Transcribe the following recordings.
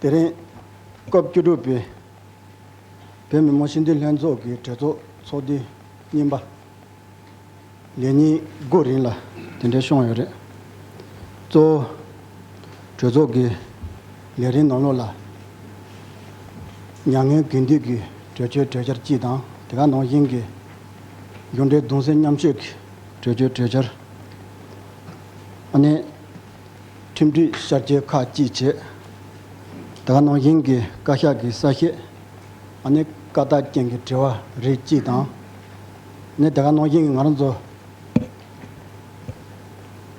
དེ་རིང་སྐབས་བཅུ་དྲུག་པའི་བོད་མི་མང་སྤྱི་འཐུས་ལྷན་ཚོགས་ཀྱི་གྲོས་ཚོགས་ཚོགས་དུས་གཉིས་པ་ལས་ཉིན་དགུ་རིང་ལ་དེ་འབྲེལ་ཤོང་ཡོད་རེད། གཙོ་བོ་གྲོས་ཚོགས་ཀྱི་ལས་རིམ་ནང་ལོགས་ལ་མྱ་ངན་གུས་འདུད་ཀྱི་གྲོས་ཆོད་གྲོས་འཆར་སྤྱི་དང་དེ་ག་ནང་བཞིན་གྱི་མཇུག་འབྲས་གདུང་སེམས་མཉམ་སྐྱེད་ཀྱི་གྲོས་ཆོད་གྲོས་འཆར། ནས་ཁྲིམས་སྒྲིག་ཤར་སྐྱེལ་ཁག་གཅིག་བྱས། དེ་ག་ནང་བཞིན་གྱི་བཀའ་ཤག་གི་གསལ་བཤད། བཀའ་རྟགས་ཅན་གྱི་དྲི་བ་རིགས་གཅིག་དང། དེ་ག་ནང་བཞིན་གྱི་ང་རང་ཚོ་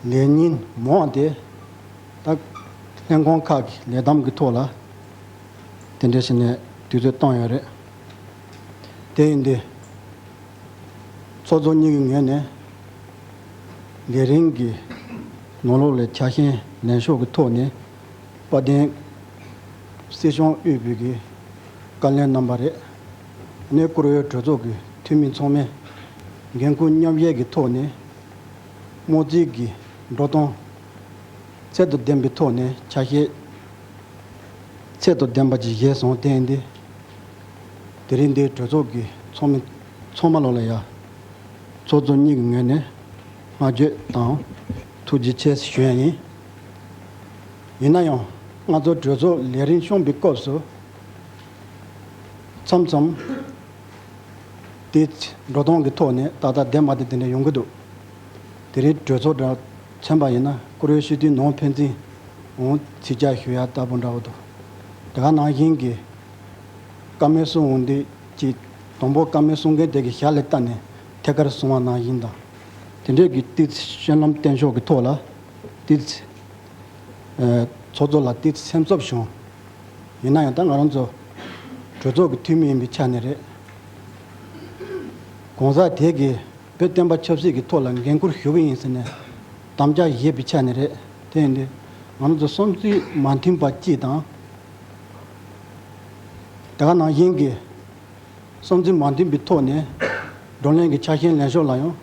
ལས་ཉིན་མོ་འོངས་ཏེ། ལྷན་ཁང་ཁག་གི་ལས་གདམ་གྱི་ཐོག་ལ་དེ་འདྲའི་ཞིག་ནས་དུས་ཚོད་བཏང་ཡོད་རེད། དེ་ཡིན་དུས་ཚོགས་གཙོ་གཉིས་ཀྱི་ངོས་ནས། ལས་རིམ་གྱི་ནང་ལོགས་ལས་འཆར་ཤན་ལེན་ཕྱོགས་ཀྱི་ཐོག་ནས་དཔལ་ལྡན་སྲིད་སྐྱོང་དབུས་བོད་ཀྱི་བཀའ་ལན་གནང་བ་རེད། གནས་བསྐོར་འོས་གྲོས་ཚོགས་ཀྱི་འཐུས་མི་ཚང་མས་འགན་འཁུར་མཉམ་བཞེས་ཀྱི་ཐོག་ནས་དམངས་གཙིའི་གི་འགྲོ་སྟངས་ཚད་དོ་ལྡན་པའི་ཐོག་ནས་ཆ་ཤས་ཚད་དོ་ལྡན་པ་ཅིག་བཞེས་སོང་བསྟན། དེ་རིང་འདིར་གྲོས་ཚོགས་ཀྱི་ཚོགས་མི། ཚོགས་མ་ལོག་ལ་ཡ། ཚོགས་གཙོ་གཉིས་ཀྱི་ངོས་ནས་སྔ་འགྱོད་དང་ཐུགས་རྗེ་ཆེ་ཞུ་ཡ་ཡིན། ཡིན་ན་ཡང་ང་ཚོ་གྲོས་ཚོགས་ལས་རིན་གཤོང་པའི་སྐབས་སུ་མཚམས་མཚམས་དེ་འགྲོ་སྟངས་ཀྱི་ཐོག་ནས་ད་ལྟ་འདས་མ་དེ་དེ་འདྲ་ཡོང་གི་འདུག་དེ་རིང་གྲོས་ཚོགས་གྲ་ཚན་པ་ཡིན་ན་བཀུར་འོས་ཤུལ་དུས་ནོངས་ཕན་ཚིན་འོང་ཚིག་བཅག་ཞུ་ཡ་ལྟ་བུ་འདྲ་བོ་འདུག་དེ་ག་ནང་བཞིན་གྱི་བཀའ་མོལ་གསུང་འོང་དུས་ཀྱི་དང་པོ་བཀའ་མའི་གསུང་མཁན་དེ་གི་ཞལ་ལས་བལྟ་ནས་ཐད་ཀར་གསུང་བ་ནང་བཞིན་དང། དེ་འབྲེལ་གྱི་ཏིཏ་གཤེན་ལམ་བསྟན་ཕྱོགས་ཀྱི་ཐོག་ལ་ཏིཏ། ཚོགས་གཙོ་ལ་ཏིཏ་སེམས་གསོ་བྱུང། ཡིན་ན་ཡང་ད་ང་རང་ཚོ་གྲོས་ཚོགས་ཀྱི་འཐུས་མི་ཡིན་པའི་ཆ་ནས་རེད། གོང་ས་དེ་གི་བོད་བསྟན་པ་ཆབ་སྲིད་ཀྱི་ཐོག་ལ་འགན་ཁུར་ཞུ་གི་ཡིན་ཟེར་ནས་དམ་བཅའ་བཞེས་པའི་ཆ་ནས་རེད། དེ་ཡིན་དུས་ང་རང་ཚོ་བསམ་ཚུལ་མ་མཐུན་པ་གཅིག་དང། དེ་ག་ནང་བཞིན་གྱི། བསམ་ཚུལ་མ་མཐུན་པའི་ཐོག་ནས་བགྲོ་གླེང་གི་ཆ་ཤས་ལེན་ཕྱོགས་ལ་ཡང་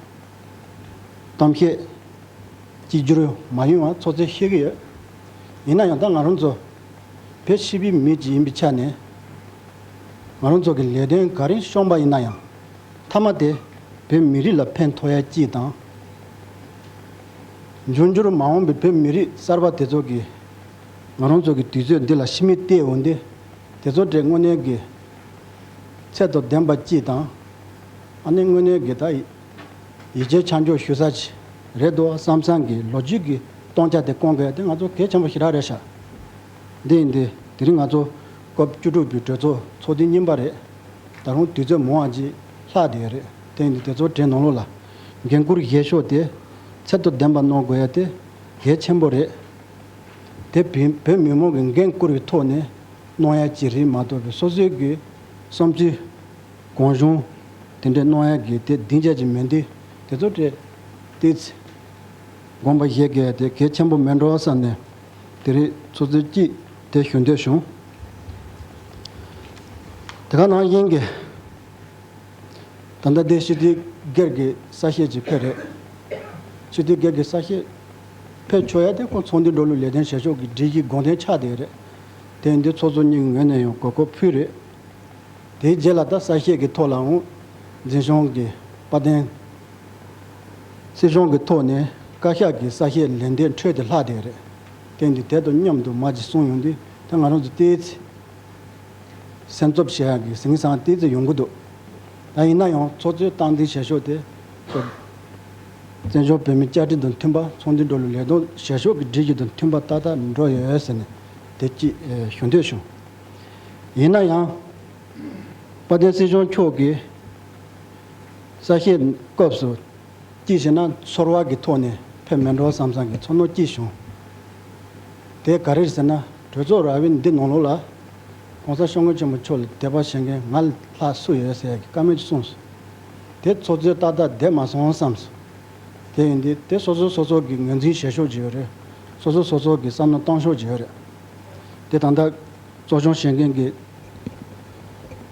གཏམ་བཤད་གཅིག་གྱུར་མ་ཡོང་བ་ཚོགས་གཙོས་ཤེས་ཀྱི་ཡོད། ཡིན་ན་ཡང་ད་ང་རང་ཚོ་བོད་ཕྱི་པའི་མི་གཅིག་ཡིན་པའི་ཆ་ནས་ང་རང་ཚོ་གི་ལས་དོན་ག་རེ་ཤོང་པ་ཡིན་ན་ཡང་མཐའ་མ་དེ་བོད་མི་རིགས་ལ་ཕན་ཐོགས་ཡ་སྐྱིད་དང། འབྱུང་འགྱུར་མ་འོངས་པའི་བོད་མི་རིགས་གསར་པ་དེ་ཚོ་གི། ང་རང་ཚོ་གི་དུས་ཚོད་འདི་ལ་ཕྱི་མིག་བལྟས་འོང་དུས། དེ་ཚོ་འདྲའི་དངོས་གནས་དགེ། ཚད་དང་ལྡན་པ་སྐྱིད་དང། ཨ་ནི་དངོས་གནས་དགེ་ད། ཡིད་ཆེས་ཆ་འཇོག་ཞུ་ས་ཅི། རེད་འདུག་བསམ་བསམ་གི་ལོ་རྒྱུས་ཀྱི་སྟོང་ཆ་དེ་སྐོང་གལ་ཏེ་ང་ཚོ་གལ་ཆེན་པོ་ཞིག་རག་རེད་ཤག། འདི་ཡིན་འདི། དེ་རིང་ང་ཚོ། སྐབས་བཅུ་དྲུག་པའི་གྲོས་ཚོགས་ཚོགས་དུས་གཉིས་པ་རེད། ད་རུང་དུས་ཚོད་མང་བ་ཅིག་ལྷག་བསྡད་ཡོད་རེད་དེ་ཡིན་དུས་དེ་ཚོ་དྲན་གནང་ལུགས་ལ། འགན་ཁུར་བཞེས་ཤོག་དེ། ཚད་དང་ལྡན་པ་གནང་དགོས་ཡ་དེ། གལ་ཆེན་པོ་རེད། དེ་བས་བོད་མི་མང་གིས་འགན་བསྐུར་བའི་ཐོག་ནས་གནང་ཡ་ཅི་རིགས་མ་གཏོགས་པའི་སོ་སོའི་གི་བསམ་ཚུལ། གང་བྱུང་དེ་འདྲས་གནང་ཡ་གི་དེ་སྡིངས་ཆ་ཅིག་མིན་ཏེ་དེ་ཚོ་སྤྲད་དེ། དགོངས་པ་བཞེས་དགོས་ཡ་དེ་གལ་ཆེན་པོ་མེད་འགྲོ་བསམ་ནས་དེ་རིགས་ཚོ་ཚུལ་གཅིག་དེ་ཞུ་འདོད་བྱུང། དེ་ག་ནང་བཞིན་གི། ད་ལྟ་དེ་ཤི་ཏི་སྒེར་གི་ས་བཤེར་གྱི་ཁེ་རེད། ཤི་ཏི་སྒེར་གི་ས་བཤེར། ཕེབས་ཆོག་ཡ་དེ་ཁོང་ཚོང་འདུས་འགྲོ་ལུགས་ལས་དོན་བྱེད་ཕྱོགས་ཀྱི་སྒྲིག་གཞི་དགོངས་དོན་ཆགས་བསྡད་རེད། དེ་འདི་ཚོགས་གཙོ་གཉིས་ངོས་ནས་ཡང་གོ་སྐོར་ཕུལ་རེད། དེའི་རྗེས་ལ་ད་གསལ་བཤད་ཀྱི་ཐོག་ལའང། འཛིན་སྐྱོང་གི་དཔའ་གདེང། སྲིད་སྐྱོང་གི་ཐོག་ནས་བཀའ་ཤག་གི་གསལ་བཤད་ལན་འདེབས་འཕྲོས་དེ་ལྷག་བསྡད་རེད། དེ་འདི་དེ་དང་མཉམ་དུ་མ་གཅིག་གསུང་ཡོང་དུས་ད་ང་རང་ཚོ་ལྟས་ཚེ། སེམས་གཙོ་བྱེད་ཡག་གི་ཟིང་ཟང་ལྟས་ཚེ་ཡོང་གི་འདུག་ད་ཡིན་ན་ཡང་ཚོགས་གཙོའི་སྟངས་འཛིན་བྱེད་ཕྱོགས་དེ། བཙན་བྱོལ་བོད་མིའི་བཅའ་ཁྲིམས་དང་མཐུན་པ་ཚོགས་འདུའི་འགྲོ་ལུགས་ལས་དོན་བྱེད་ཕྱོགས་ཀྱི་སྒྲིག་གཞི་དང་མཐུན་པ་ཏག་ཏག་འགྲོ་ཡོད་ཟེར་ནས་དེ་གཅིག་ཞུ་འདོད་བྱུང། ཡིན་ན་ཡང། དཔལ་ལྡན་སྲིད་སྐྱོང་མཆོག་གིས་གསལ་བཤད་སྐབས་སུ། སྐྱིད་ཤི་ན་ཚོར་བ་གི་ཐོག་ནས་ཕེབས་མི་འགྲོ་བསམ་བསམ་གྱི་ཚོར་སྣང་སྐྱེས་བྱུང། དེ་ག་རེད་ཟེར་ན་གྲོས་ཚོགས་ར་བའི་འདི་ནང་ལོགས་ལ། ྋགོང་ས ྋསྐྱབས་མགོན་ཆེན་པོ་མཆོག་ལ་དད་པ་བྱེད་མཁན་ང་ལྷག་སུ་ཡོད་ཟེར་ཡག་གི་ཀ་མེད་ཅིག་གསུངས་སོང། དེ་ཚོ་ཚོད་ཏག་ཏག་བསྡད་མ་སོང་བསམ་སོང། དེ་ཡིན་དུས་དེ་སོ་སོ་སོ་སོ་གིས་ངོས་འཛིན་བྱེད་ཤོག་ཅེས་པ་རེད། སོ་སོ་སོ་སོ་གིས་བསམ་བློ་གཏང་ཤོག་ཅེས་པ་རེད། དེ་ད་ལྟ་གཙོ་སྐྱོང་བྱེད་མཁན་གྱི་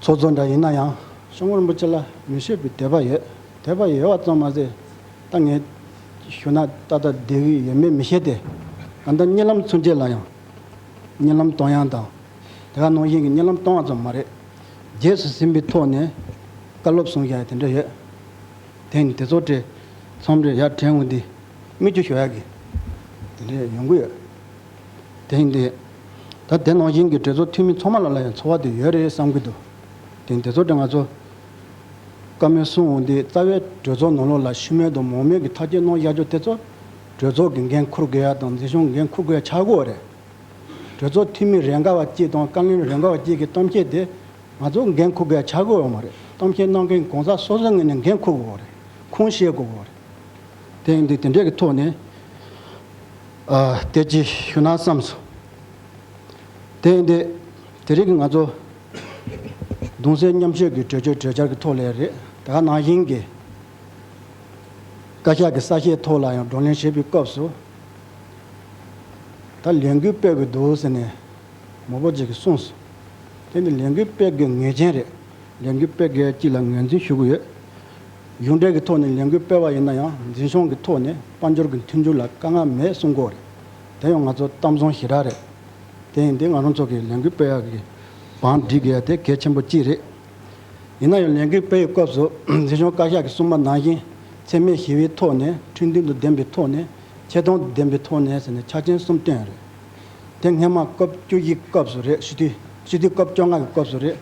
ཚོགས་གཙོ་འདྲ་ཡིན་ན་ཡང། ཤོང་ངོ་རིན་པོ་ཆེ་ལ་མི་བཤད་པའི་དད་པ་ཡོད། དད་པ་ཡོད་བ་ཙམ་མ་ཟད། ད་ངས་ཞུ་ན་ཏག་ཏག་བསྡད་ཀྱི་ཡོད་མེད་མི་ཤེས་ཏེ། ད་ལྟ་བརྙན་ལམ་ཚུན་ཆད་ལ་ཡང། བརྙན་ལམ་གཏོང་ཡང་དང། དེ་ག་ནང་བཞིན་གྱི་བརྙན་ལམ་གཏོང་བ་ཙམ་མ་རེད། རྗེས་སུ་ཟིན་པའི་ཐོག་ནས་བཀའ་སློབ་གསུང་བཞག་དེ་འདྲ་ཡོད། དེ་ནི་དེ་ཚོ་བཀྲས་མཚམས་རེར་ཡར་དྲན་འོང་དུས་སྨིག་རྒྱུ་ཞོ་ཡག་གི་དེ་འདྲ་ཡོང་གི་ཡོད། དེ་ཡིན་དུས། ད་དེ་ནང་བཞིན་གྱི་བགྲེས་ཚོགས་འཐུས་མི་ཚང་མ་ལ་ལ་ཡང་འཚོ་བ་དེ་ཡོད་རེད་བསམ་གྱི་འདུག་དེ་ཡིན་དེ་ཚོ་བཀྲས་ང་ཚོ་བཀའ་མོལ་གསུང་འོང་དུས་རྩ་བའི་བགྲོས་ཚོགས་ནང་ལོགས་ལ་ཤུལ་མེད་དུ་མོག་མེད་ཀྱི་ཐག་གཅོད་གནང་བཞག་རྒྱུ་དེ་ཚོ་བགྲོས་ཚོགས་ཀྱི་འགན་འཁུར་དགོས་ཡ་དང་འཛིན་སྐྱོང་འགན་འཁུར་དགོས་ཡ་ཆགས་གོ་རེད། གྲོས་ཚོགས་འཐུས་མི་རེ་འགའ་བ་བཅས་དང་བཀའ་བློན་རེ་འགའ་བ་བཅས་ཀྱི་གཏམ་འཆལ་དེ་ང་ཚོ་འགན་འཁུར་དགོས་ཡ་ཆ་དགོས་ཡོད་མ་རེད་གཏམ་འཆལ་གནང་མཁན་གང་ཟག་སོ་སོའི་ངོས་ནས་འགན་འཁུར་དགོས་བ་རེད་ཁུངས་ཤེས་དགོས་བ་རེད། དེང་དུས་དེ་འདྲས་ཀྱི་ཐོག་ནས་དེ་ཅི་ཞུ་ན་བསམ་སོང། དེང་དུས་དེ་རིགས་ང་ཚོ་གདུང་སེམས་མཉམ་སྐྱེད་ཀྱི་གྲོས་ཆོད་གྲོས་འཆར་གྱི་ཐོག་ལས་རེད་དེ་ག་ནང་བཞིན་གྱི་བཀའ་ཤག་གི་གསལ་བཤད་ཐོག་ལ་ཡང་བགྲོ་གླེང་བྱེད་པའི་སྐབས་སུ་ད་ལས་འགུལ་སྤེལ་དགོས་འདུག་ཟེར་ནས་མོ་པོ་ཅིག་གིས་གསུངས་སོང། དེ་ནི་ལས་འགུལ་སྤེལ་དགོས་ངེས་ཅན་རེད། ལས་འགུལ་སྤེལ་མཁན་གཅིག་ལ་ངོས་འཛིན་ཞུ་གི་ཡོད། གཞུང་འབྲེལ་གྱི་ཐོག་ནས་ལས་འགུལ་སྤེལ་བ་ཡིན་ན་ཡང་འཛིན་སྐྱོང་གི་ཐོག་ནས་དཔལ་འབྱོར་གྱི་མཐུན་འགྱུར་ལ་དཀའ་ངལ་མེད་གསུངས་སྐོར་རེད། དེ་ཡང་ང་ཚོ་གཏམ་བཟང་ཞེ་དྲག་རེད། དེ་ཡིན་དུས་ང་རང་ཚོ་གིས་ལས་འགུལ་སྤེལ་ཡག་གི་བང་སྒྲིག་དགོས་ཡ་དེ་གལ་ཆེན་པོ་གཅིག་རེད། ཡིན་ན་ཡང་ལས་འགུལ་སྤེལ་བའི་སྐབས་སུ་མཛེས་ལྗོངས་བཀའ་ཤག་གི་སྲུང་མ་ནང་བཞིན་འཚེ་མེད་ཞི་བའི་ཐོག་ནས་ཁྲིམས་མཐུན་དུ་བདེན་པའི་ཐོག་ནས་ཆེ་མཐོང་དུ་བདེན་པའི་ཐོག་ནས་ཟེར་ནས་ཆ་རྐྱེན་གསུམ་བཏོན་ཡོད་རེད། དེ་སྔའི་མ་སྐབས་བཅུ་བཞིའི་སྐབས་སུ་རེད་ཞི་དུས་སྤྱི་འཐུས་སྐབས་བཅོ་ལྔ་གི་སྐབས་སུ་རེད།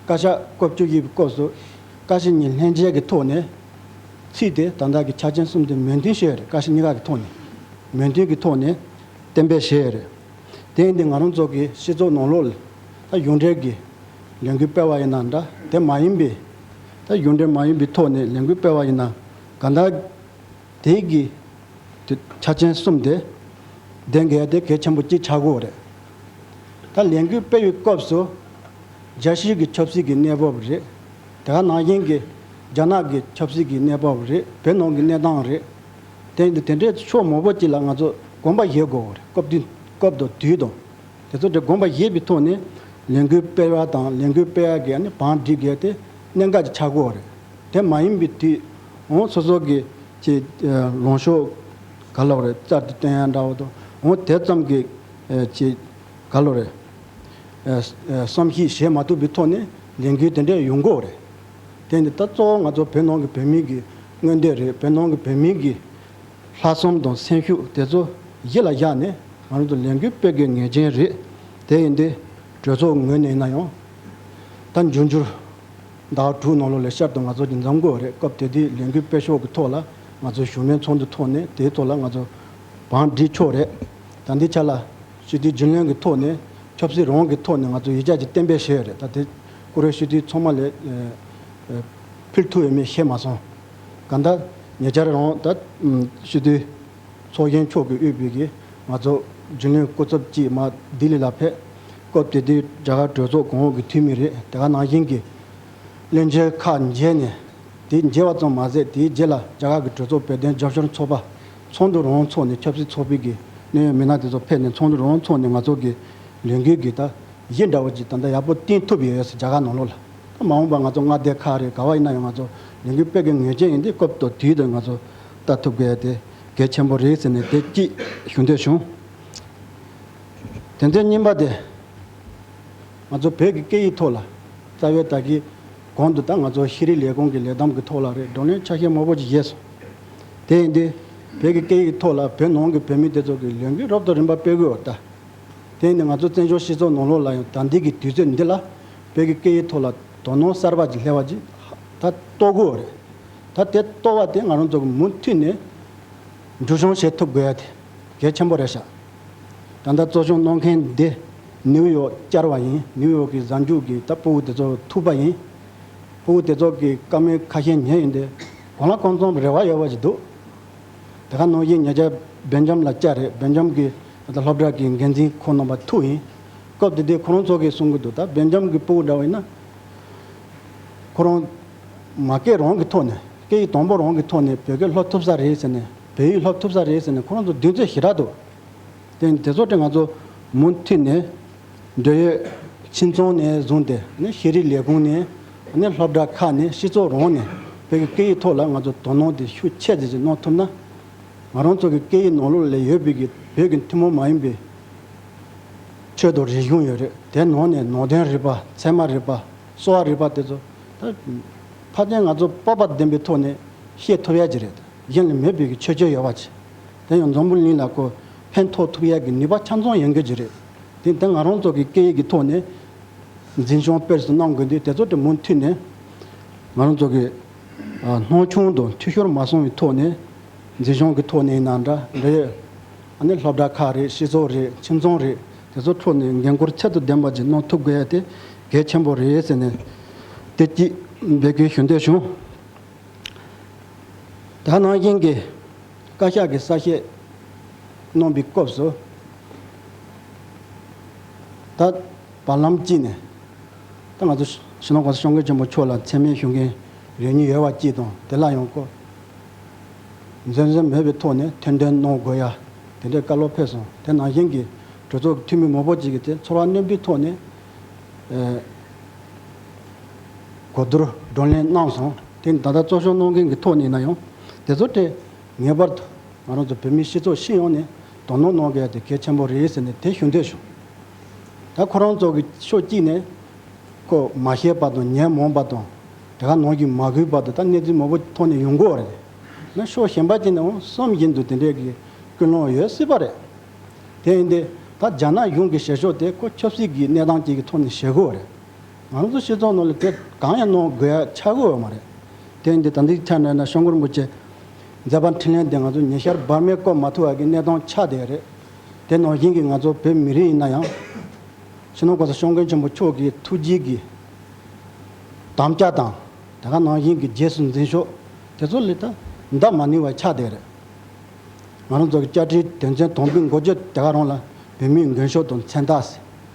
བཀའ་ཤག་སྐབས་བཅུ་བཞི་པའི་སྐབས་སུ་བཀའ་ཤེར་གཉིས་ལྷན་མཇལ་གྱི་ཐོག་ནས་ཚིག་དེ་དང་དག་གི་ཆ་རྐྱེན་གསུམ་དེ་མོས་མཐུན་ཞུས་ཡོད་རེད་བཀའ་ཤེར་གཉིས་ཀ་གི་ཐོག་ནས་མོས་མཐུན་གྱི་ཐོག་ནས་གཏན་འབེབས་བྱས་ཡོད་རེད། དེ་ཡིན་དུས་ང་རང་ཚོ་གི་སྤྱི་ཚོགས་ནང་ལོགས་ལ། ད་གཞུང་འབྲེལ་གྱི་ལས་འགུལ་སྤེལ་བ་ཡིན་ན་འདྲ་དེ་མ་ཡིན་པས། ད་གཞུང་འབྲེལ་མ་ཡིན་པའི་ཐོག་ནས་ལས་འགུལ་སྤེལ་བ་ཡིན་ན་ག་འདྲ། དེའི་གི་དུས་ཆ་ཆེན་གསུམ་དེ་ལྡན་གལ་ཏེ་གལ་ཆེན་པོ་གཅིག་ཆགས་དགོས་རེད། ད་ལས་འགུལ་སྤེལ་བའི་སྐབས་སུ་རྒྱལ་སྤྱིའི་གི་ཆབ་སྲིད་ཀྱི་གནས་བབ་རེད། དེ་ག་ནང་བཞིན་གྱི་རྒྱ་ནག་གི་ཆབ་སྲིད་ཀྱི་གནས་བབ་རེད་བོད་ནང་གི་གནས་སྟངས་རེད། དེ་དེ་འདྲའི་ཕྱོགས་མང་པོ་གཅིག་ལ་ང་ཚོ་གོམས་པ་བཞེས་དགོས་རེད་སྐབས་དུས་དང། དེ་ཚོ་དེ་དགོངས་པ་བཞེས་པའི་ཐོག་ནས་ལས་འགུལ་སྤེལ་བ་དང་ལས་འགུལ་སྤེལ་བ་གཉིས་བང་སྒྲིག་བྱས་ཏེ་གནད་འགག་གི་ཆག་སྒོ་རེད། དེ་མ་ཡིན་པའི་དུས། སོ་སོ་གི་ཀྱི་ལོངས་ཤོག་ག་ལོག་རེད་བཙལ་ཏེ་བཏོན་ཡ་འདྲ་བོ་དང། དེ་ཙམ་གྱི་ཀྱི་ག་ལོག་རེད། བསམ་གཞིག་བྱེད་མ་ཐུབ་པའི་ཐོག་ནས་ལས་འགུལ་དེ་འདྲའི་ཡོང་སྒོ་རེད། དེ་ནི་ད་གཙོ་བོ་ང་ཚོ་བོད་ནང་གི་བོད་མི་གི་མངོན་འདོད་རེད་བོད་ནང་གི་བོད་མི་གི། ལྷག་བསམ་དང་སེམས་ཤུགས་དེ་ཚོ་ཡིད་ལ་བཞག་ནས་ང་རང་ཚོ་ལས་འགུལ་སྤེལ་དགོས་ངེས་ཅན་རེད། དེ་ཡིན་དུས་གྲོས་ཚོགས་ངོས་ནས་ཡིན་ན་ཡང། ད་འབྱུང་འགྱུར་ཟླ་བ་དྲུག་ནང་ལོ་ལས་ཤར་དུ་ང་ཚོ་གྱི་འཛམ་གོ་རེ་སྐབས་དེ་དུས་ལས་འགུལ་སྤེལ་ཕྱོགས་ཀྱི་ཐོག་ལ་ང་ཚོའི་བཞུགས་མོལ་ཚོགས་འདུ་ཐོག་ནས་དེའི་ཐོག་ལ་ང་ཚོ་བང་སྒྲིག་ཆོག་རེད། ད་འདི་ཆ་ལ་ཞི་དུལ་རྒྱུན་ལོན་གྱི་ཐོག་ནས་ཆབ་སྲིད་རང་གི་ཐོག་ནས་ང་ཚོ་ཡིད་ཆགས་ཀྱི་གཏན་འབེབས་བྱས་ཡོད་རེད་ད་དེ་སྐོར་ཞི་དུལ་ཚང་མ་ལས་ཕིར་ཐུག་ཡོད་མེད་ཤེས་མ་སོང། གང་ལྟར། ཉེ་ཆར་རང་འོག་ད་ཤི་དུས། ཚོགས་གཞོན་མཆོག་གི་དབུས་བོད་ཀྱི་ང་ཚོགས་རྒྱུན་ལས་སྐུ་ཚབ་ཅིག་མ་ལྡི་ལི་ལ་ཕེབས། སྐབས་དེ་དུས་རྒྱ་གར་གྲོས་ཚོགས་གོང་འོག་གི་འཐུས་མི་རེ་དེ་ག་ནང་བཞིན་གྱི་བློན་ཆེན་ཁག་མཇལ་ནས། དེ་མཇལ་བ་ཙམ་མ་ཟད་དེའི་རྗེས་ལ་རྒྱ་གར་གྱི་གྲོས་ཚོགས་བོད་དོན་རྒྱབ་ཤོར་ཚོགས་པ། ཚོགས་འདུ་རོང་བོ་འཚོགས་ནས་ཆབ་སྲིད་ཚོགས་སྤེལ་གྱི་གནད་ཡོད་མི་སྣ་དེ་ཚོ་ཕེབས་ནས་ཚོགས་འདུ་རོང་བོ་འཚོགས་ནས་ང་ཚོགས་ཀྱི་ལས་འགུལ་གྱི་ད་གཞི་འདྲ་བོ་ཅིག་ད་ལྟ་ཡག་པོ་བསྟན་ཐུབ་ཡོད་ཡོད་སྲིད་རྒྱ་གར་ནང་ལོགས་ལ། མ་འོངས་པར་ང་ཚོ་མངའ་སྡེ་ཁག་རེ་ག་བ་ཡིན་ན་ཡང་ང་ཚོ་ལས་འགུལ་སྤེལ་དགོས་ངེས་ཅན་ཡིན་དུས་སྐབས་དོ་དུས་དེར་ང་ཚོ་ལྟ་ཐུབ་གལ་ཏེ་གལ་ཆེན་པོ་རེད་ཟེར་ནས་བདེ་སྐྱིད་ཞུ་འདོད་བྱུང། དོན་ཚན་གཉིས་པ་དེ། ང་ཚོ་བོད་ཀྱི་སྐད་ཡིག་ཐོག་ལ་རྩ་བའི་དག་གིས་གོང་དུ་ད་ང་ཚོ་ཤེས་རིག་ལས་ཁུངས་ཀྱི་ལས་བསྡོམས་ཀྱི་ཐོག་ལ་རེ་བགྲོ་གླེང་ཆ་ཤས་མང་པོ་ཅིག་བཞེས་སོང། དེ་ཡིན་དུས་བོད་ཀྱི་སྐད་ཡིག་ཐོག་ལ་བོད་ནང་གི་བོད་མི་དེ་ཚོ་གི་ལས་འགུལ་རོབ་ཏོ་རིམ་པ་སྤེལ་དགོས་བ་ལྟ། དེ་ནི་ང་ཚོ་བཙན་བྱོལ་སྤྱི་ཚོགས་ནང་ལོགས་ལ་ཡང་དམ་འདེགས་ཀྱི་དུས་ཚོད་འདི་ལ་བོད་ཀྱི་སྐད་ཡིག་ཐོག་ལ་དོ་སྣང་གསར་པ་ཞིག་སླེབས་པ་ཅིག་ད་གཏོད་དགོས་རེད། ད་དེ་གཏོད་པ་དེ་ང་རང་ཚོ་མུ་མཐུད་ནས་འགྲུལ་བྱུང་བྱེད་ཐུབ་དགོས་ཡ་དེ་གལ་ཆེན་པོ་རེད་ཤག་ད་ལྟ་གཙོ་སྐྱོང་གནང་མཁན་འདི་ནིའུ་ཡོག་བསྐྱར་བ་ཡིན་ནིའུ་ཡོག་གི་གཟའ་མཇུག་གི་ད་སྤུ་བོ་དེ་ཚོ་ཐུག་པ་ཡིན། སྤུ་བོ་དེ་ཚོ་གི་བཀའ་མོལ་ཁ་ཤས་ཉན་ཡོད་འདི་གང་ལ་གང་འཚམ་རེ་བ་ཡོད་པ་ཞིག་འདུག། དེ་ག་ནོར་གྱིས་ཉེ་ཆར་སྦེལ་ཇམ་ལ་བཅར་རེས་སྦེལ་ཇམ་གྱི་སློབ་གྲྭ་གི་འགན་འཛིན་ཁོ་ནོ་བ་ཐུ་ཡིན། སྐབས་དེ་དུས་ཁོ་རང་ཚོ་གིས་གསུང་གི་འདུག་ད་སྦེལ་ཇམ་གྱི་སྤུ་བོ་འདྲ་བ་ཡིན་ན། ཁོ་རང་མ་སྐད་རང་གི་ཐོག་ནས་སྐད་ཡིག་དང་པོ་རང་གི་ཐོག་ནས་བོད་སྐད་སློབ་ཐུབ་ས་རེད་ཟེར་ནས་བོད་ཡིག་སློབ་ཐུབ་ས་རེད་ཟེར་ནས་ཁོ་རང་ཚོ་མདུན་ཚོད་ཞི་དྲག་ཏུ་བསྟན་དེ་ཚོ་དེ་ང་ཚོ་མུ་མཐུད་ནས་འབྲེལ་ཡོད་ཕྱི་ཚོང་ནས་བཟུང་སྟེ་ནས་ཤེས་རིག་ལས་ཁུངས་ནས། ནས་སློབ་གྲྭ་ཁག་ནས་སྤྱི་ཚོགས་རོང་ནས་བོད་ཀྱི་སྐད་ཡིག་ཐོག་ལ་ང་ཚོར་དོ་སྣང་དེ་ཤུགས་ཆེ་བརྩེ་གཅིག་གནང་ཐུབ་ན། ང་རང་ཚོ་གི་སྐད་ཡིག་ནང་ལོ་ལེགས་ཡོད་པའི་གི་བོད་ཀྱི་ཐུན་མོང་མ་ཡིན་པའི་ཆོས་དང་རིག་གཞུང་ཡོད་རེད་དེ་ནང་ནས་ནང་བསྟན་རིག་པ་ཚད་མ་རིག་པ་གསོ་བ་རིག་པ་དེ་ཚོ་ད་ཕར་ཕྱིན་ང་ཚོ་སྤོབས་པ་ལྡན་པའི་ཐོག་ནས་ཤེས་ཐུབ་ཡ་གྱི་རེད་གཞན་ལ་མེད་པའི་གི་ཆོས་ཆོས་ཡོད་བ་ཆེ་དེ་ཡང་འཛམ་བུ་གླིང་ལ་ཁོ་ཕན་ཐོགས་ཐུབ་ཡ་གི་ནུས་པ་ཆ་མཚོན་ཡོང་གི་རེད་དེ་ད་ང་རང་ཚོ་གི་སྐད་ཡིག་གི་ཐོག་ནས། འཛིན་སྐྱོང་སྤེལ་སུ་གནང་དགོས་འདུག་དེ་ཚོ་དེ་མུ་མཐུད་ནས་ང་རང་ཚོ་གི་སྣང་ཆུང་དང་འཐུས་ཤོར་མ་སོང་བའི་ཐོག་ནས་འཛིན་སྐྱོང་གི་ཐོག་ནས་ཡིན་ན་འདྲ་འདྲ་ཡོད། ད་ནི་སློབ་གྲྭ་ཁག་རེད་སྤྱི་ཚོགས་རེད་ཁྱིམ་ཚང་རེད་དེ་ཚོ་ཁྲོད་ནས་འགན་འཁུར་ཚད་དུ་ལྡན་པ་ཅིག་གནང་ཐུབ་དགོས་ཡ་དེ་གལ་ཆེན་པོ་རེད་ཟེར་ནས་དེ་སྐྱིད་འབད་ཀྱིས་ཞུ་འདོད་བྱུང། ད་ནང་བཞིན་གྱི། བཀའ་ཤག་གིས་གསལ་བཤད་གནང་པའི་སྐབས་སུ། ད་བར་ལམ་གཅིག་ནས་ད་ང་ཚོ་ཞིང་ནང་གོང་ས་ཤོག་མཁན་ཆེན་པོ་མཆོག་ལ་མཚན་སྨད་ཞུ་མཁན་རེ་གཉིས་ཡོད་བ་གཅིག་དང་དེ་ལ་ཡང་སྐོར་འཛེམ་ཟོན་མེད་པའི་ཐོག་ནས་ཐེར་འདོན་གནང་དགོས་ཡ་དེ་འདྲའི་བཀའ་སློབ་ཕེབས་སོང་དེ་ནང་བཞིན་གྱི་གྲོས་ཚོགས་ཀྱི་འཐུས་མི་མང་པོ་གཅིག་གིས་དེ་ཚོར་བ་རྣོན་པོའི་ཐོག་ནས་གོ་བསྡུར་བགྲོ་གླེང་གནང་སོང་དེ་ད་ལྟ་གཙོ་སྐྱོང་གནང་མཁན་གྱི་ཐོག་ནས་ན་ཡང། དེ་ཚོ་སྟེ། ངེས་པར་དུ་ང་རང་ཚོ་བོད་མིའི་སྤྱི་ཚོགས་ཤེས་ཡོང་ནས་དོ་སྣང་གནང་གལ་དེ་གལ་ཆེན་པོ་རེད་ཟེར་ནས་དེ་ཞུ་འདོད་བྱུང། ད་ཁོ་རང་ཚོ་གི་ཕྱོགས་གཅིག་ནས། ཁོ་མ་ཤེས་པ་དང་ཉན་མོངས་པ་དང། དེ་ག་ནང་གི་མ་གུས་པ་དེ་དག་གནས་ཚུལ་མང་པོ་ཐོག་ནས་ཡོང་དགོས་རེད། ན་ཕྱོགས་གཞན་པ་ཅིག་ནས་འང་བསམ་བཞིན་དུ་དེ་འདྲའི་གི་ཀུན་སློང་ཡོད་སྲིད་པ་རེད། དེ་ཡིན་ཏེ། ད་རྒྱ་ནག་གཞུང་གི་བྱེད་ཕྱོགས་དེ་ཁོ་ཆབ་སྲིད་ཀྱི་གནས་སྟངས་ཅིག་གི་ཐོག་ནས་བྱེད་དགོས་རེད། ང་ཚོ་ཤེས་ཚོར་ནང་ལ་དེ་གང་ཡང་གནང་དགོས་ཡ་ཆ་དགོས་ཡོད་མ་རེད། དེ་འདི་ད་འདི་ཆ་ནས་ན་ཤོང་སྐོར་མགོ་བརྗེ། མཛད་པ་འཕྲིན་ལན་དེ་ང་ཚོ་ཉེ་ཤར་འབར་མའི་སྐོར་མ་ཐུ་བ་གི་གནས་སྟངས་ཆ་དེ་རེད། དེ་ནང་བཞིན་གྱི་ང་ཚོ་བོད་མི་རིགས་ཡིན་ན་ཡང། ཕྱི་ནང་གོ་ས་ཤོང་མཁན་ཆེན་པོ་མཆོག་གི་ཐུགས་རྗེ་གི་དམ་བཅའ་དང། དེ་ག་ནང་བཞིན་གྱི་རྗེས་སུ་འཛིན་ཤོག་དེ་ཚོ་ལས་ད་འདའ་མ་ནུས་བ་ཆ་དེ་རེད། ང་རང་ཚོ་གི་བཅའ་ཁྲིའི་དོན་ཚན་དོང་པུའི་མགོ་བརྗེ་དེ་ག་རང་ལ་བོད་མིའི་མགོན་ཤོག་དང་མཚན་རྟགས།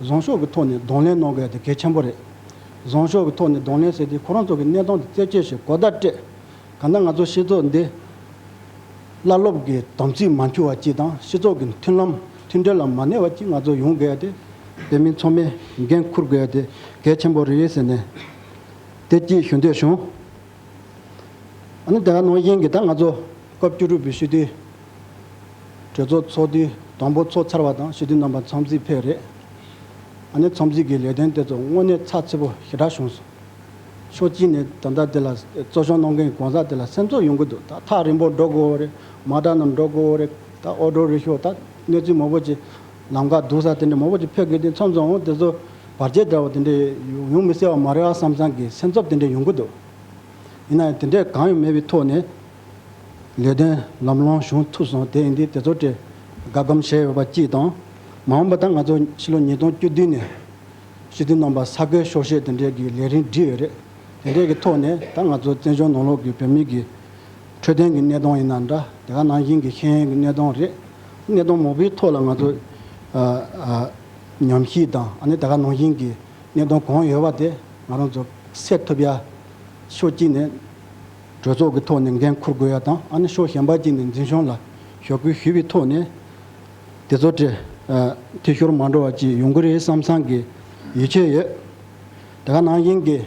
བཟང་ཕྱོགས་ཀྱི་ཐོག་ནས་གདོང་ལེན་གནང་དགོས་ཡ་དེ་གལ་ཆེན་པོ་རེད། བཟང་ཕྱོགས་ཀྱི་ཐོག་ནས་གདོང་ལེན་ཟེར་དུས་ཁོ་རང་ཚོ་གི་གནས་སྟངས་དེ་རྩད་ཆོད་བྱེད་གོ་བརྡ་སྤྲད། གང་ལྟར་ང་ཚོ་སྤྱི་ཚོགས་འདི། བླ་སློབ་ཀྱི་དམ་ཚིག་མ་འཁྱུར་བ་གཅིག་དང་སྤྱི་ཚོགས་ཀྱི་མཐུན་ལམ་མཐུན་འབྲེལ་ལ་མ་གནས་པ་གཅིག་ང་ཚོ་ཡོང་དགོས་ཡ་དེ། བོད་མི་ཚོ་མི་འགན་འཁུར་དགོས་ཡ་དེ་གལ་ཆེན་པོ་རེད་ཟེར་ནས། བདེ་སྐྱིད་ཞུ་འདོད་བྱུང། ཨ་ནི་དེ་ག་ནང་བཞིན་གྱི་ད་ང་ཚོ་སྐབས་བཅུ་དྲུག་པའི་ཞུ་དུས། གྲོས་ཚོགས་ཚོགས་དུས་དང་པོ་ཚོགས་ཚར་བ་དང་ཞི་བདེའི་རྣམ་པ་འཚམས་གཟིགས་ཕེབས་རེས་ཨ་ནེ་འཚམས་གཟིགས་ཀྱི་ལས་དོན་དེ་ཚོ་དངོས་གནས་ཚགས་ཚུད་པོ་ཞེ་དྲག་བྱུང་སོང། ཕྱོགས་གཅིག་ནས་ད་ལྟ་དེ་ལ་གཙོ་སྐྱོང་གནང་མཁན་གང་ཟག་དེ་ལ་སེམས་ཚོར་ཡོང་གི་འདུག་ད་ཐག་རིང་པོར་འགྲོ་དགོས་བོ་རེད་མ་གྲ་རྣམས་འགྲོ་དགོས་བོ་རེད་ད་ཨོ་འགྲོ་རེ་ཤོག་ད་གནས་ཚུལ་མང་བོ་ཅིག་ལམ་ཁ་སྡུག་ས་དེ་འདྲ་མང་བོ་ཅིག་ཕེབས་དགོས་དུས་མཚམས་མཚམས་འོང་དེ་ཚོ་བར་ཆད་འདྲ་བོ་དེ་འདྲ་ཡོང་མི་སྲིད་བ་མ་རེད་ཨ་བསམ་བསམ་གྱི་སེམས་ཚོར་དེ་འདྲ་ཡོང་གི་འདུག་ཡིན་ན་ཡང་དེ་འདྲ་གང་ཡང་མེད་པའི་ཐོག་ནས། ལས་དོན་ལམ་ལྷོང་བྱུང་ཐུབ་སོང་དེ་ཨིན་དི་དེ་ཚོ་གྲས་དགའ་སྒམ་བྱས་ཡོད་པ་གཅིག་དང། མ་འོངས་པ་ད་ང་ཚོ་ཕྱི་ལོ་ཉིས་སྟོང་བཅུ་བདུན་ནས་ཞི་བདེ་ནོམ་པ་ས་ཁོའི་ཤོག་ཤེས་དེ་འདྲས་ཀྱི་ལས་རིན་བསྒྲིགས་ཡོད་རེད་དེ་འདྲས་ཀྱི་ཐོག་ནས་ད་ང་ཚོ་བཙན་བྱོལ་ནང་ལོག་གི་བོད་མི་གི་འཕྲོད་བསྟེན་གི་གནས་སྟོང་ཡིན་ན་འདྲ་དེ་ག་ནང་བཞིན་གི་ཤེས་ཡོན་གི་གནས་སྟོང་རེད་གནས་སྟོང་མང་པོའི་ཐོག་ལ་ང་ཚོ་ཉམས་ཞིབ་དང་ཨ་ནི་ད་ག་ནང་བཞིན་གི་གནས་སྟོང་གང་ཡོད་བ་དེ་ང་རང་ཚོ་སེལ་ཐུབ་ཡ་ཤོག་གཅིག་ནས། གྲོས་ཚོགས་ཀྱི་ཐོག་ནས་འགན་འཁུར་དགོས་ཡ་དང་ཨ་ནི་ཕྱོགས་གཞན་པ་གཅིག་ནས་འཛིན་སྐྱོང་ལ་ཞོག་སྐུལ་ཞུས་པའི་ཐོག་ནས། དེ་ཚོ་དེ་འཐུས་ཤོར་མ་འགྲོ་བ་ཅིག་ཡོང་གི་རེད་བསམ་བསམ་གི་ཡིད་ཆེས་ཡོད། དེ་ག་ནང་བཞིན་གྱི།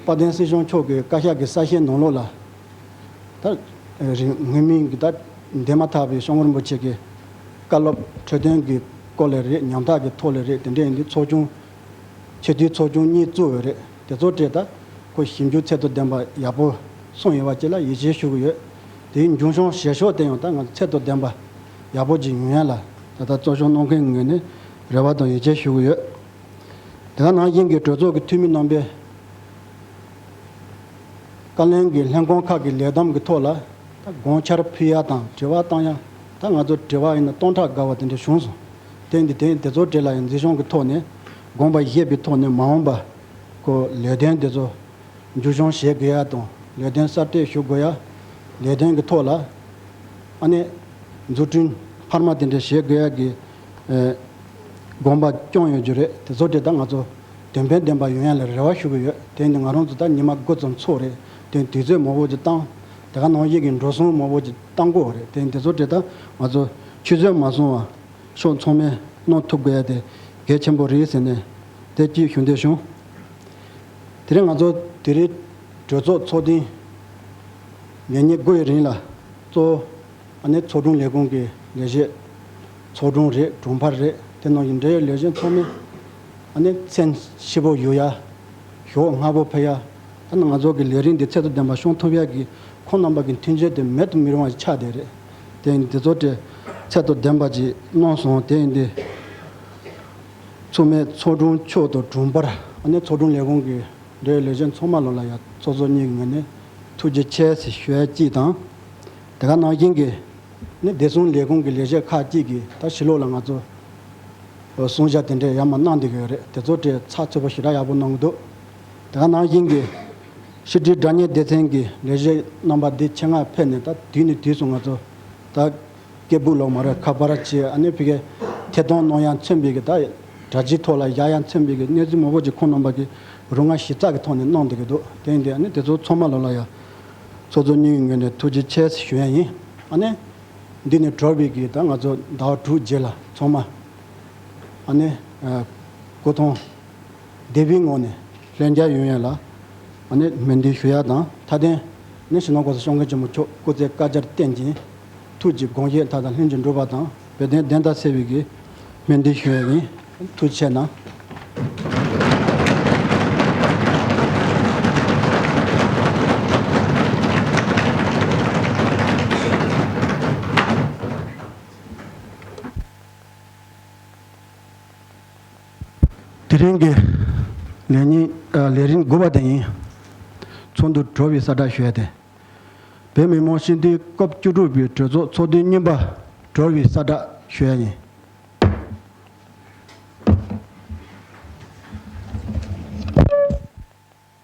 དཔལ་ལྡན་སྲིད་སྐྱོང་མཆོག་གི་བཀའ་ཤག་གི་གསར་བཤད་ནང་ལོགས་ལ། ད་རིང་དངོས་མིང་གི་ད་འདས་མ་ཐག་པའི་ཤོང་རིན་པོ་ཆེ་གི་བཀའ་སློབ་འཕྲོས་དོན་གྱི་སྐོར་ལས་རེད་ཉམ་ཐག་གི་ཐོག་ལས་རེད་དེ་འདྲས་ཡིན་དུས་ཚོགས་ཆུང། ཆེས་མཐོའི་ཚོགས་ཆུང་གཉིས་གཙོས་འོས་རེ་དེ་ཚོ་སྤྲད་ད་ཁོ་ཞིབ་འཇུག་ཚད་དོ་ལྡན་པ་ཡག་པོ་སོང་ཡོད་པ་བཅས་ལ་ཡིད་ཆེས་ཞུ་གི་ཡོད། དེའི་མཇུག་གཞོང་བཞེས་ཤོག་བསྟན་ཡོང་ད་ང་ཚོ་ཚད་དོ་ལྡན་པ་ཡག་པོ་ཅིག་ཡོང་ཡ་ལ་ད་ལྟ་གཙོ་སྐྱོང་གནང་མཁན་ངོས་ནས་རེ་བ་དང་ཡིད་ཆེས་ཞུ་གི་ཡོད། དེ་སྔ་ནང་བཞིན་གྱི་གྲོས་ཚོགས་ཀྱི་འཐུས་མི་རྣམ་པས་བཀའ་ལན་གྱི་ལྷན་ཁང་ཁག་གི་ལས་བསྡམས་ཀྱི་ཐོག་ལ་དགོངས་འཆར་ཕུལ་ཡ་དང་དྲི་བ་བཏང་ཡ་ད་ང་ཚོ་དྲི་བ་ཡིན་ན་སྟོང་ཕྲག་དགའ་བ་དེ་འདྲ་བྱུང་སོང། རྟེན་འདི་རྟེན་དེ་ཚོ་བྲིས་ལ་ཡང་འཛིན་སྐྱོང་གི་ཐོག་ནས་དགོངས་པ་བཞེས་པའི་ཐོག་ནས་མ་འོངས་པ་ཀོ་ལས་དོན་དེ་ཚོ་མཇུག་སྐྱོང་བྱེད་དགོས་ཡ་དང་ལས་དོན་གསར་གཏོད་ཞུ་དགོས་ཡ། ལས་དོན་གྱི་ཐོག་ལ་ཨ་ནེ་འཛུགས་སྐྲུན་འཕར་མ་དེ་འདྲ་བྱེད་དགོས་ཡ་གི་དགོངས་པ་བསྐྱོང་ཡོད་རྒྱུ་རེད་དེ་ཚོ་བྲིས་ད་ང་ཚོ་དོན་ཕན་ལྡན་པ་ཡོང་ཡ་ལ་རེ་བ་ཞུ་གི་ཡོད་དེ་ནི་ང་རང་ཚོ་ད་ཉི་མ་དགུ་ཙམ་ཚོ་རེད་དེ་དུས་ཚོད་མོ་བོ་ཅིག་བཏང་དེ་ག་ནང་བཞིན་གྱི་འགྲོ་སོང་མོ་བོ་ཅིག་བཏང་གོ་རེད་དེ་འདི་ཚོ་བྲིས་ད་ང་ཚོ། ཆུ་ཟོས་མ་སོང་བ། ཤོག་མཚོག་མས་གནོང་ཐུབ་དགོས་ཡ་དེ་གལ་ཆེན་པོ་རེད་ཟེར་ནས་དེ་སྐྱིད་བཞུགས་འདོད་བྱུང། དེ་རིང་ང་ཚོ་དེ་རིང་གྲོས་ཚོགས་ཚོགས་ཐེངས་ལས་ཉེར་དགུ་ཡི་རིང་ལ་གཙོ་བོ་ནི་ཚོགས་དྲུང་ལས་ཁུངས་ཀྱི་ལས་བྱེད། ཚོགས་དྲུང་རེད་དྲུང་འཕར་རེད་དེ་ནང་གི་འབྲེལ་ཡོད་ལས་བྱེད་ཚང་མས་མཚན་ཕྱི་པོ་གཡུག་ཡ། ཞོགས་སྔ་པོ་ཕེབས་ཡ། ད་ནི་ང་ཚོ་གི་ལས་རིགས་འདི་ཚད་དུ་ལྡན་པ་ཤོང་ཐུབ་ཡ་གི་ཁོང་རྣམ་པ་གི་མཐུན་རྐྱེན་དེ་མེད་དུ་མི་རུང་བ་ཆགས་བསྡད་རེད། དེ་འདི་ཚོ་དྲི་ཚད་དུ་ལྡན་པ་ཅིག་གནང་སོང་དེ་འདི་ཚུགས་མེད་ཚོགས་དྲུང་མཆོག་ཏུ་གྲུང་པར། ཨ་ནེ་ཚོགས་དྲུང་ལས་ཁུངས་ཀྱི་འབྲེལ་ལས་ཅན་ཚོགས་མ་ལོ་ལ་ཡ་ཚོགས་ཚོགས་གཉིས་ཀྱི་ངོས་ནས་ཐུགས་རྗེ་ཆེ་ཞོལ་གྱིས་དང། དེ་ག་གནང་མཁན་གྱི་ནི་བདེ་སྲུང་ལས་ཁུངས་ཀྱི་ལས་བྱེད་ཁག་ཅིག་གིས་ད་ཕྱི་ལོགས་ལ་ང་ཚོ་བཟུང་བཞག་དེ་འདྲས་ཡ་མ་གནང་འདི་གི་རེད་དེ་ཚོ་དྲི་ཚགས་ཚུད་པོ་ཞེ་དྲག་ཡག་པོ་གནང་གི་འདུག་དེ་ག་གནང་མཁན་གྱི་ཕྱི་དྲིལ་དགྲ་གཉེན་སྡེ་ཚན་གྱི་ལས་བྱེད་རྣམ་པ་འདི་ཆེད་མངགས་ཕེབས་ནས་ད་དུས་ནས་དུས་སུ་ང་ཚོ་ད་སྐད་སྦུག་ལོག་མ་རེད་ཁ་པར་བྱས་ཨ་ནེ་ཕི་ཁའི་ཐད་གཏོང་གནོང་ཡ་མཚོན་འབེབས་ཀྱི་ད་དྲ་ཕྱིའི་ཐོག་ལ་བཞག་ཡ་མཚོན་འབེབས་ཀྱི་གནས་ཚུལ་མང་པོ་ཅིག་ཁོང་རྣམ་པ་གྱི་རུ་ང་ཞིབ་ཚགས་ཀྱི་ཐོག་ནས་གནང་བསྡད་ཀྱི་འདུག་དེ་ཡིན་དུས་ཨ་ནེ་དེ་ཚོ་ཚང་མ་ལོ་ལ་ཡ་ཚོ་ཚོ་སྙིང་གི་ངོས་ནས་ཐུགས་རྗེ་ཆེ་ཞུ་ཡ་ཡིན་ཨ་ནེ། འདི་ནས་གྲོལ་བའི་གི་ད་ང་ཚོ་ཟླ་བ་དྲུག་རྗེས་ལ་ཚང་མ་ཨ་ནེ། སྐུ་ཐང། སྡེ་པའི་ངོས་ནས་ལྷན་རྒྱ་ཡོད་ཡོད་ལ། མེ་འདུན་ཞུ་ཡག་དང་མཐའ་བརྟན། ནས་ཞིང་ནང་སྒོ་ཟྭ་ཤོང་མཁན་ཆེན་མོ་མཆོག་སྐུ་ཚེ་བསྐལ་བརྒྱར་བརྟན་ཅིང། ཐུགས་ཀྱི་དགོངས་བཞེད་མཐའ་དང་ལྷན་ཅིག་འགྲུབ་པ་དང་བོད་བསྟན་བདེན་མཐའ་གསལ་བའི་དགེ། མེ་འདུན་ཞུ་ཡག་ཡིན། མཐུ་ཆེ་ན། དེ་རིང་གི་ལས་ཉིན་ལས་རིམ་དགུ་བ་དེ་ཡིན། ཚོགས་འདུ་གྲོལ་བའི་ས་བཀྲ་ཤོས་དེ། བོད་མི་མང་སྤྱི་འཐུས་སྐབས་བཅུ་དྲུག་པའི་གྲོས་ཚོགས་ཚོགས་དུས་གཉིས་པ་གྲོལ་བའི་ས་བཀྲ་ཤོས་ཡིན།